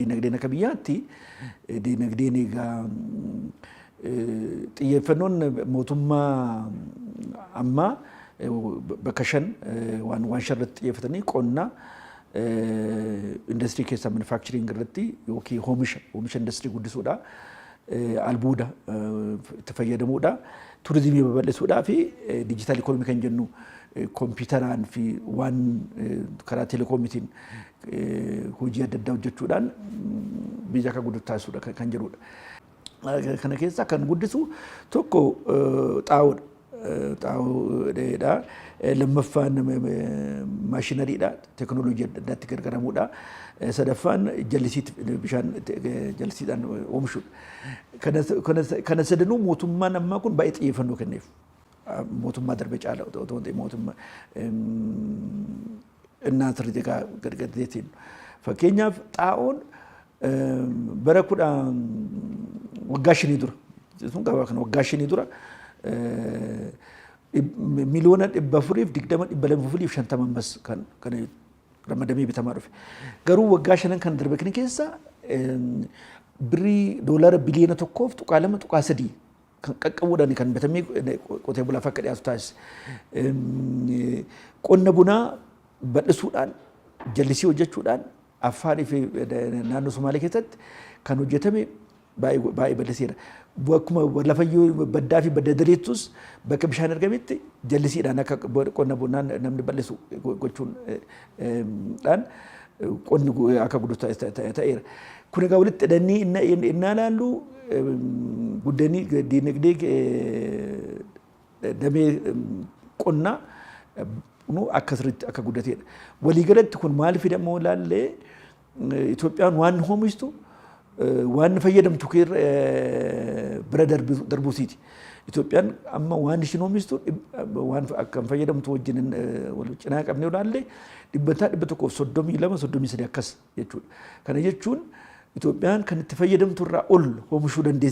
Diinagdeen akka biyyaatti diinagdeen egaa xiyyeeffannoon mootummaa ammaa bakka shan waan waan shan irratti xiyyeeffatanii qonna industirii keessaa manufacturing irratti yookiin hoomisha hoomisha industirii guddisuudha. Albuuda itti fayyadamuudha. Turizimii babal'isuudhaa fi diijitaal ikoonomii kan jennu kompiitaraan fi waan karaa telekoomiitiin hojii adda addaa hojjechuudhaan biyya akka guddatu taasisuudha kan- kan jedhudha. Eh, Kana keessaa kan guddisu tokko eh, xaa'oodha. Eh, Xaa'oo dheedha. Eh, Lammaffaan eh, eh, maashinariidha. Teknooloojii adda addaatti gargaaramuudha. Eh, Sadaffaan jallisiitti bishaan itti- eh, jallisiidhaan oomishuudha. Kana- kana- Kana sadanuu mootummaan ammaa kun baay'ee xiyyeeffannoo kenneef. Mootummaa darbe caala otoo hin ta'in mootummaa innaa sirri jegaa gad gad deetiin. Fakkeenyaaf xaa'oon bara kudha waggaa shanii dura jechuun gabaa kana waggaa shanii dura miliyoona dhibba afuriif digdama dhibba lama fi shantama ammas kan kan ramadamee bitamaa dhufe. Garuu waggaa shanan kan darbe kana keessa birrii doolaara biliyoona tokkoof tuqaa lama tuqaa sadii kan qaqqabuudhaan kan bitamee qotee bulaaf akka dhiyaatu taasise. Qonna bunaa bal'isuudhaan jallisii hojjechuudhaan Affaanii fi naannoo Somaalee keessatti kan hojjetame baay'ee bal'iseera. Akkuma lafa baddaa fi badda diriittus bakka bishaan argametti jallisiidhaan akka qonna bunaan namni bal'isu gochuun dhaan qonni akka guddu ta'eera. Kun egaa walitti hidhannii innaa ilaallu guddanii diinagdee damee qonnaa akka sirriitti akka guddateedha. Waliigalatti kun maal fida immoo ilaallee Itoophiyaan waan hoomishtu waan fayyadamtu kee bira darbuu siiti. Itoophiyaan amma waan ishiin hoomishtu waan akka fayyadamtu wajjin wal cinaa qabnee ilaalle dhibbantaa dhibba tokkoof soddomii lama soddomii sadii akkas jechuudha. Kana jechuun Itoophiyaan kan itti fayyadamtu irraa ol hoomishuu dandeessi.